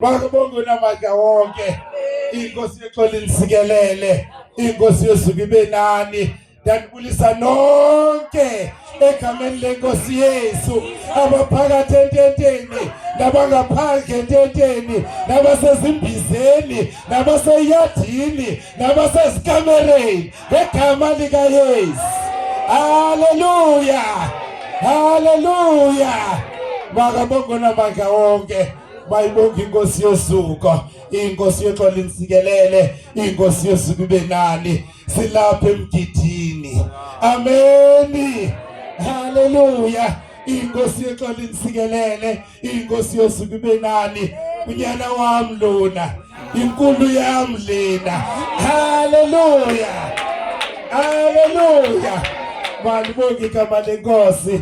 Bakubonga unamandla wonke. Inkosi yexoli nisikelele. Inkosi yosuku ibe nani. Ndakubulisa nonke egameni lenkosi Yesu abaphakathi ententeni nabangaphandle ententeni nabasezimbizeni nabaseyadini nabasezikamereni ngegama likaYesu. Hallelujah. Hallelujah. Makabonga namandla wonke. bayibonga inkosi yosuka inkosi yoxola insikelele inkosi yosuka ibe nani silapha emgidini ameni haleluya inkosi yoxola insikelele inkosi yosuka ibe nani unyana wam lona inkulu yam lena haleluya haleluya malibonga igama lenkosi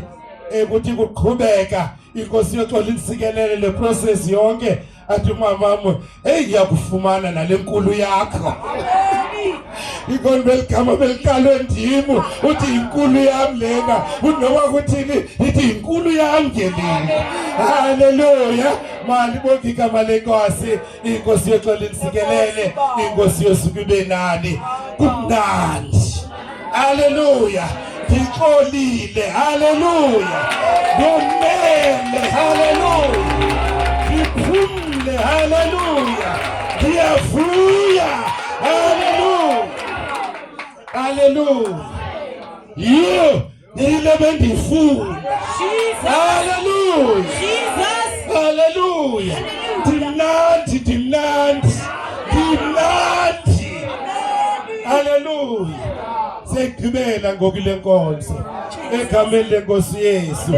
ekuthi kuqhubeka inkosi yoxola insikelele le process yonke athi mamam heyi ngiyakufumana nale nkulu yakho ikoni beligama belikalwe ndimu uthi yinkulu yam lena uthi noba kuthini ithi yinkulu yam ngelini halleluya mali bongigama lenkosi inkosi yethu alinsikelele inkosi yosuku ibe nani kumnandi haleluya ndixolile haleluya ngomele haleluya ndiphumle haleluya ndiyavuya haleluya haleluya yiyo nile bendiyifuna. Haleluya, haleluya! Ndimnandi, ndimnandi, ndimnandi. Haleluya! Segqibela ngoku le nkonzo egameni lenkosi Yesu.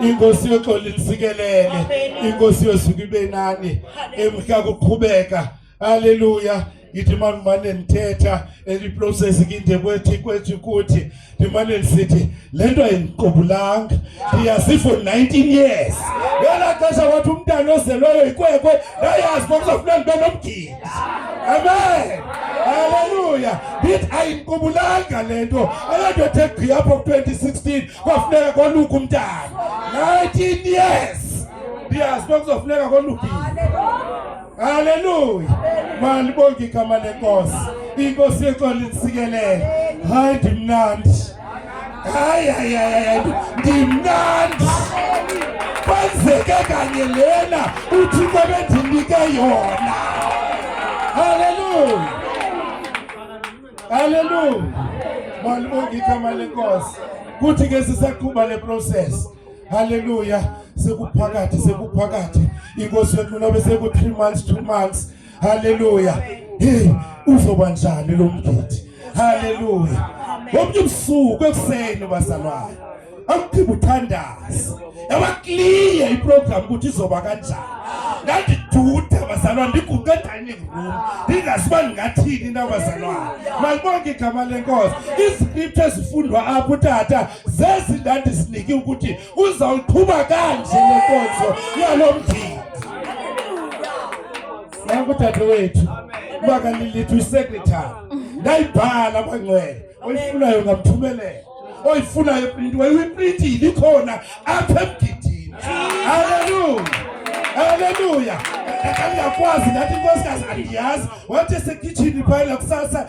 Inkosi yoxolo isikelele, inkosi yosuku ibe nani emhla kuqhubeka haleluya ngithi uma ngimane ndithetha eliprocess kinde kwethi kwethi kuthi ndimane ndisithi le nto ayindiqubulanga ndiyazi for 19 years ngela xesha wathi umntana ozelweyo yikwekwe ndayazi bokuzafuna ndibe nomgidi amen haleluya ndithi ayindiqubulanga le nto ayonto ethe gqi apho ku-2016 kwafuneka koluka umntana 19 years ndiyazi bekuzofuneka kolukile Haleluya. Malibonke igama lenkosi. Inkosi yethu alinsikelele. Hayi ndimnandi. Hayi hayi hayi ndimnandi. Kwenzeke kanye lena uThixo bendinike yona. Haleluya. Haleluya. Malibonke igama lenkosi. Kuthi ke sisaqhuba le process. haleluya sekuphakathi sekuphakathi inkosi yethu nobe seku-three months two months haleluya hey uzoba njani lo mgidi haleluya wonke ubusuku ekuseni bazalwane amkhipha uthandazi yabakliye iprogram ukuthi izoba kanjani ngandiduda bazalwane ndiguqe dining room ndingazi uba ndingathini na bazalwane malibonke igama lenkosi iscripture ezifundwa apho utata zezi ndandisinike ukuthi uzawuqhuba kanje lenkonzo yalo mdidi yakudade wethu makalilithi uyisekretary ndayibhala kwangcwele oyifunayo ngamthumelela oyifunayo iprintiwe uyiprintile ikhona apha emgidini halleluya halleluya ndakangakwazi ndathi inkosikazi andiyazi wathi esekhitshini phayela kusasa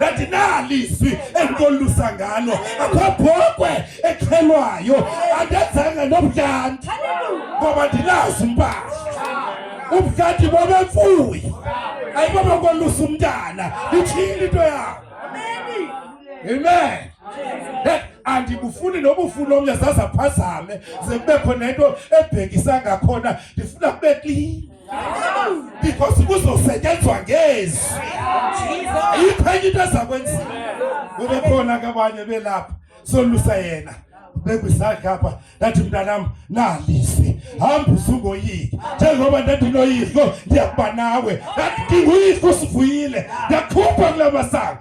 andinalizwi endikolusa ngalo akho bhokwe exhelwayo andenzanga nobudlanti ngoba ndinazi impahla ubudlanti bobemfuyi ayibaba kolusa umntana ithile into yakho amen andibufuni nobufuni omnye zazaphazame ze kubekho nento ebhekisa ngakhona ndifuna kube klini because kuzosetyenzwa ngezi ayikho enye into ezakwenziwa kube khona ke abanye belapha solusa yena bekwisakhe apha ndathi mntanam nalise hamba usungoyiki njengoba ndathi noyihlo ndiyakuba nawe ndathi ndinguyihlo usivuyile ndakhupha kula masango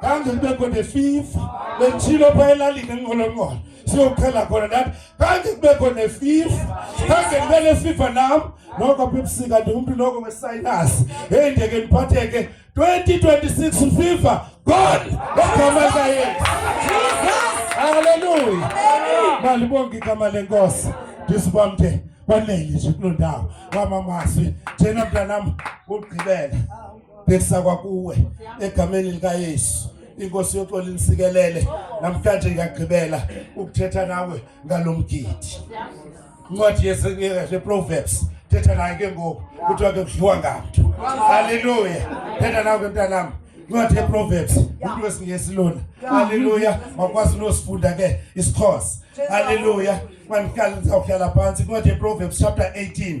kanti kube khona fifa bechilo pha elalini enqolonqolo siyoqhela khona nathi kanti kube khona fifa kanti kube le fifa nam noko bebusika ndingumntu noko wesayinasi heyi ndeke ndiphatheke 2026 fifa god egama likayesu haleluya malibonke igama lenkosi ndisibamde kwanele nje kuloo ndawo wamamazwi njena mntanam ugqibela bhekisa kwakuwe egameni likaYesu inkosi yoxola inisikelele namhlanje ngiyagqibela ukuthetha nawe ngalomgidi incwadi yeproverbs thetha naye ke ngoku kuthiwa ke kudliwa ngamntu halleluya thetha nawe ke mntanam incwadi yeproverbs umntu wesingesi lona halleluya makwazi unosifunda ke isixhosa halleluya mandihlala ndizawuhlala phantsi incwadi yeproverbs chapter 18